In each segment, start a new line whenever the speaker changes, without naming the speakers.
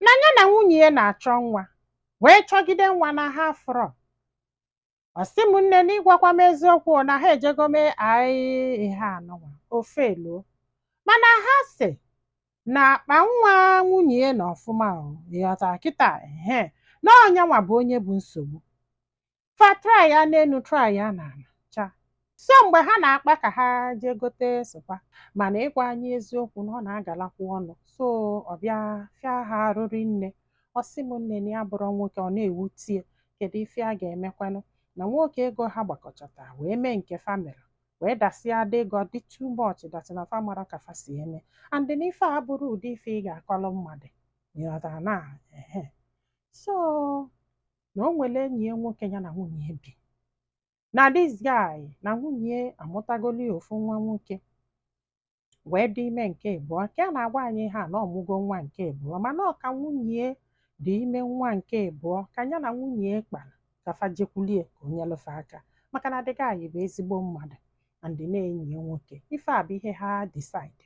na ya na nwunye ya na-achọ nwa wee chọgide nwa na ha afụrọ ọ sị m nne na ịgwakwa m eziokwu na ha ejego mee aị ihe anụnwa o failuo mana ha sị na akpa nwa nwunye ya nọ ọfụma o ị ghọta kịta ehe na ọ nyanwa bụ onye bụ nsogbu fa traa ya n'elu traa ya n'ala chaa so mgbe ha na-akpa ka ha jee gote sperm mana ịgwa anyị eziokwu na ọ na-agalakwu ọnụ so ọ bịa fịa ha arụ rinne ọ sị m nne na ya abụrọ nwoke ọ na-ewute ya kedu ife a ga-emekwanụ na nwoke ego ha gbakọchata wee mee nke fa melu wee dasịa ada ego ọ dị too much that is na fa amarọ ka fa si eme and na ife a abụrọ ụdị ife ị ga-akọrọ mmadụ ị ghọtara na ehe so na o nwere enyi ya nwoke ya na nwunye ya bi na this guy na nwunye ya amụtagolu ya ofu nwa nwoke wee dị ime nke ịbụọ ka a na-agwa anyị ha na ọ mụgo nwa nke ịbụọ mana ọ ka nwunye ya dị ime nwa nke ịbụọ ka ya na nwunye ya kpara ka fa jekwulu ya ka o nyelụ fa aka maka na the guy anyị bụ ezigbo mmadụ and na enyi ya nwoke ife a bụ ihe ha decide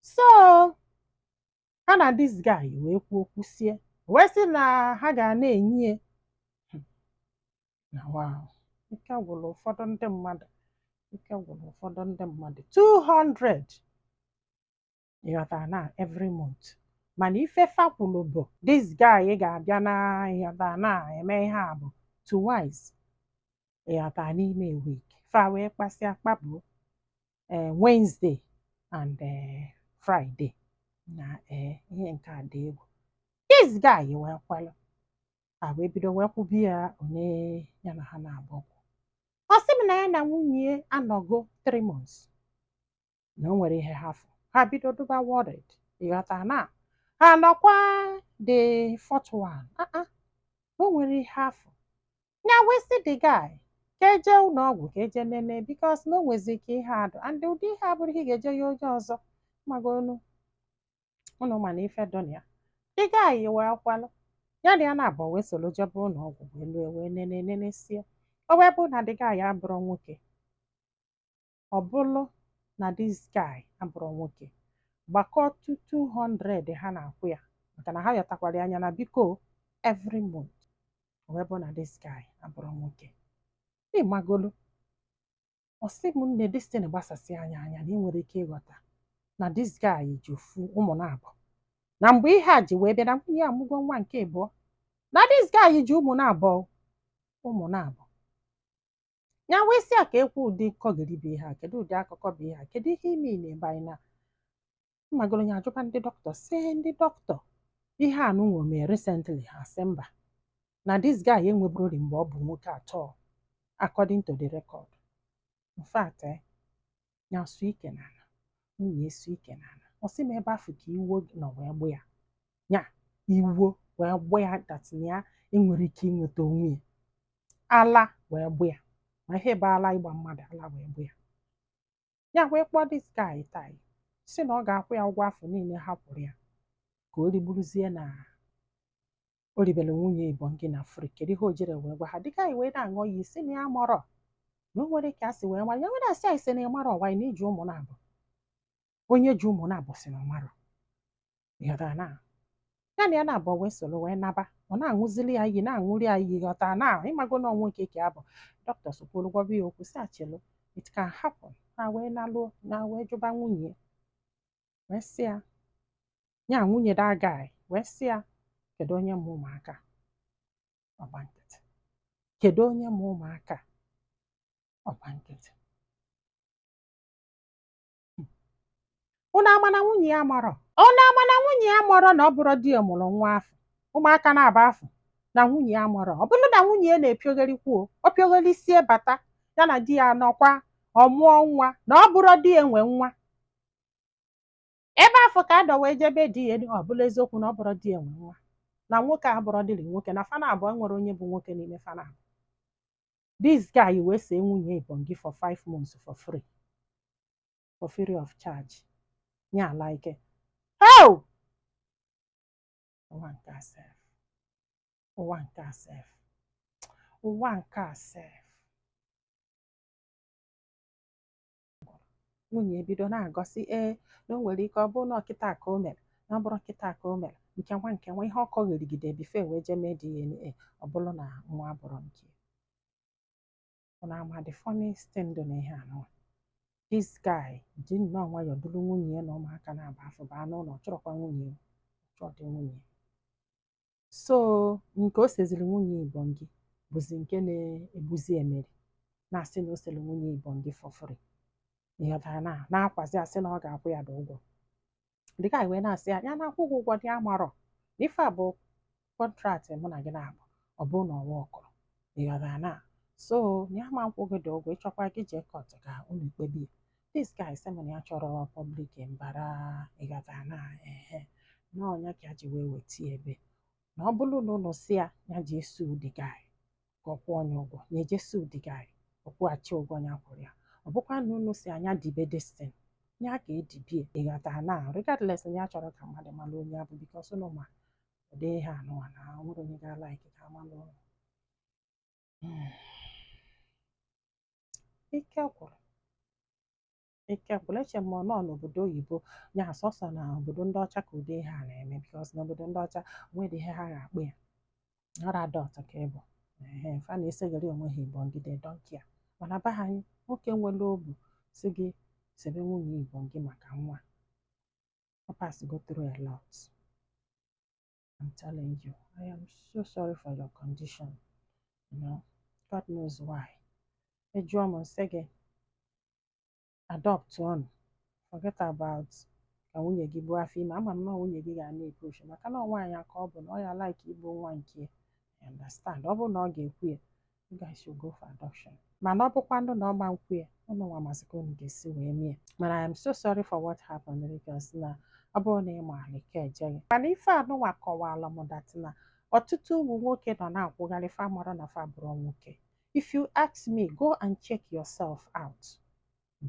so ha na this guy wee kwuo kwusie wee sị na ha ga na-enye ya na wa o ike gwụrụ ụfọdụ ndị mmadụ ike gwụrụ ụfọdụ ndị mmadụ 200 ị ghọta na every month mana ife fa kwulu bụ this guy ga-abịa na ị ghọta na-eme ihe a bụ twice ị ghọta n'ime week fa wee kpasịa kpabụ ee Wednesday and ee Friday na ee ihe nke a dị egwu this guy wee kwalụ ha wee bido wee kwụba ya onye ya na ha naabọ kwụ ọ sị m na ya na nwunye ya anọgo 3 months na o nwerọ ihe ha fụ ha bido dụba worried ị ghọta na ha nọkwa the fourth one ah ah, o nwerọ ihe ha fụ ya wee sị the guy ka e je ụlọ ọgwụ ka e je nene because na o nwezi ka ihe a dụ and ụdị ihe a abụrọ ihe ị ga-eje yọọ onye ọzọ magonu ụnụ ma na ife dụ na ya the guy wee kwalụ ya na ya naabọ wee soro jebe ụlọ ọgwụ wee lue wee nene nenesie o wee bụ na the guy abụrọ nwoke ọ bụrụ na this guy abụrọ nwoke gbakọọ two 200 ha na-akwụ ya maka na ha yọtakwara ya anya na biko every month o wee bụ na this guy abụrọ nwoke ị magolu ọ sị m nne this thing gbasasị anyị anya na i nwere ike ịghọta na this guy ji ofu ụmụ naabọ na mgbe ihe a ji wee bịa na nwunye ya amụgo nwa nke ịbụọ na this guy ji ụmụ naabọ ụmụ naabọ ya wee sị ya ka ekwu ụdị nkọgheri bụ ihe a kedu ụdị akụkọ bụ ihe a kedu ihe ime ị na-ebe anyị na mmagoro ya ajụba ndị dọkịta sị ndị dọkịta ihe a nụnwa o mee recently ha sị mba na this guy enweburori mgbe ọ bụ nwoke at all according to the record in fact eh, ya sụ ike n'ala nwunye sụ ike n'ala ọ sị m ebe afụ ka iwo nọ wee gbụ ya ya iwo wee gbụ ya that na ya enwerọ ike ịnweta onwe ya ala wee gbụ ya ị ma ihe bụ ala ịgba mmadụ ala wee gbụ ya ya wee kpọọ this guy tai sị na ọ ga-akwụ ya ụgwọ afụ niile ha kwụrụ ya ka o rigburuzie na o ribere nwunye Ibongi na free kedu ihe o jere wee gwa ha the guy wee na-aṅụ iyi sị na ya marọ na o nwere ka e si wee mara ya nwere asị anyị sị na ya marọ ọwa na iji ụmụ naabọ onye ji ụmụ naabọ sị na ọ marọ ịghọtara na ya na ya naabọ wee soro wee naba ọ na-aṅụzili ya iyi na-aṅụri ya iyi ịghọtara na ịmago na ọnwụ nke ka abụ dọkịta sokwuru gwaba ya okwu sị actually it can happen ha wee naluo ụnọ wee jụba nwunye wee sị ya ya nwunye the guy wee sị ya kedu onye mụ ụmụaka ọ gba nkịtị kedu onye mụ ụmụaka ọ gba nkịtị ụnụ ama na nwunye ya marọ ụnụ ama na nwunye ya marọ na ọ bụrọ di ya mụrụ nwa afụ ụmụaka naabọ afụ na nwunye ya marọ ọ bụrụ na nwunye ya na-epiogharịkwu o piogharịsie bata ya na di ya nọkwa ọ mụọ nwa na ọ bụrọ di ya nwe nwa ebe afụ ka a nọ wee jebe DNA ọ bụlụ eziokwu na ọ bụrọ di ya nwe nwa na nwoke a abụrọdịrị nwoke na fa naabọ enwerọ onye bụ nwoke n'ime fa naabọ this guy wee see nwunye Ibongi for five months for free for free of charge nye ala ike heo ụwa nke a sef ụwa nke a sef ụwa nke a sef nwunye ebido na-agọ sị ee na o nwere ike ọ bụrụ na ọ kịta ka o mere na ọ bụrụ kịta ka o mere nke nwa nke nwa ihe ọ kọgherigide before e wee jee mee DNA ọ bụrụ na nwa abụrọ nke na ama the funniest thing dị n'ihe a nụwa this guy ji nnọọ nwayọọ duru nwunye ya na ụmụaka naabọ afụ baa n'ụlọ ọ chụrọkwa nwunye ya ọ chụrọdị nwunye ya so nke o seziri nwunye Ibongi bụzi nke na-egbuzi emeri na-asị na o sere nwunye Ibongi for free ịghọtara na na-akwazi asị na ọ ga-akwụ ya the ụgwọ the guy wee na-asị ya ya na-akwụ gị ụgwọ dị amarọ na ife a bụ contract mụ na gị naabọ ọ bụrụ na ọ workurọ ịghọtara na so ya ama akwụ gị the ụgwọ ị chọkwa gị jee court ka unu kpebie this guy sị m na ya chọrọ public mbara ịghọta na ehe na ọ nya ka ya ji wee weta ya ebe a na ọ bụrụ na unu sị ya ya jee sue the guy ka ọ kwụọ nya ụgwọ ya eje sue the guy ọ kwụghachi ụgwọ ya kwụrụ ya ọ bụkwa na unu sị ya nya dibe this thing ya ka edibie ịghọta na regardless na ya achọrọ ka mmadụ mara onye ọ bụ because unu ma ụdị ihe anụwa na enwerọ onye ga-alike ka a malụ ike gwụrụ ike gwụrụ eche m na ọ n'obodo oyibo ya sọsọ na obodo ndị ọcha ka ụdị ihe a na-eme because n'obodo ndị ọcha nwere ihe ha ga-akpọ ya ọra adọt ka ịbụ ehe fa na-esegharị onwe ha igbo ngị they don't care mana be anyị nwoke nwere obu si gị sebe nwunye igbo gị maka nwa ọ passigo through a lot I'm telling you, I am so sorry for your condition. You know, God knows why. A jụọ m, m sị gị, adopt one, forget about ka nwunye gị buo afọ ime. Ama m na nwunye gị ga na-epush maka na nwaanyị ka ọ bụ na ọ ya-alike ibu nwa nke ya. I understand. Ọ bụrụ na ọ ga-ekwe ya, you guys should go for adoption mana ọ bụkwanụ na ọ ma nkwe ya unu nwa mazi ka unu ga-esi wee mie mana I am so sorry for what happened because na ọ bụrụ na ị ma alike ejeghị mana ife anụnwa kọwara m that na ọtụtụ ụmụ nwoke nọ na-akwụgharị fa amarọ na fa abụrọ nwoke if you ask me go and check yourself out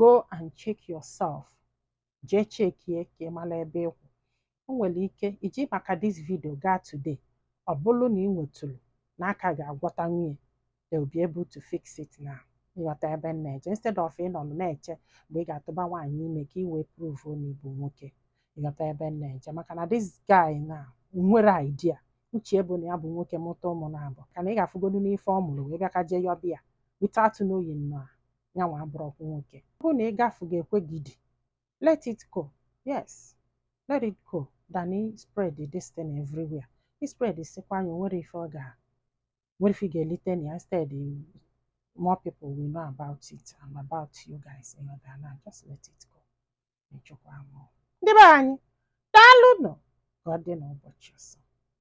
go and check yourself jee chekie ka ị mara ebe ị kwụ o nwere ike i ji maka this video gaa today ọ bụrụ na ị nwetụrụ na a ka ga-agwọtanwu ya they will be able to fix it now ị ghọta ebe m na-eje instead of ịnọ na-eche mgbe ị ga-atụba nwaanyị ime ka ị wee prove na ị bụ nwoke ị ghọta ebe m na-eje maka na this guy na enwerọ idea o chebu na ya bụ nwoke mụta ụmụ naabọ ka na ị ga-afụgodu n'ife ọ mụrụ wee bịa ka jee yọbịa without knowing na ya nwa abụrọkwa nwoke ọ bụ na ịgafu ga-ekwe gị die let it go yes let it go than ịspread this thing everywhere ị spreadsịkwa nya enwerọ ife ọ ga enwerọ ife ị ga-elite na ya instead you- more people will know about it and about you guys you know na just let it go ịchụkwa mụ ndị be anyị daalụnụ ka ọ dị n'ụbọchị ọzọ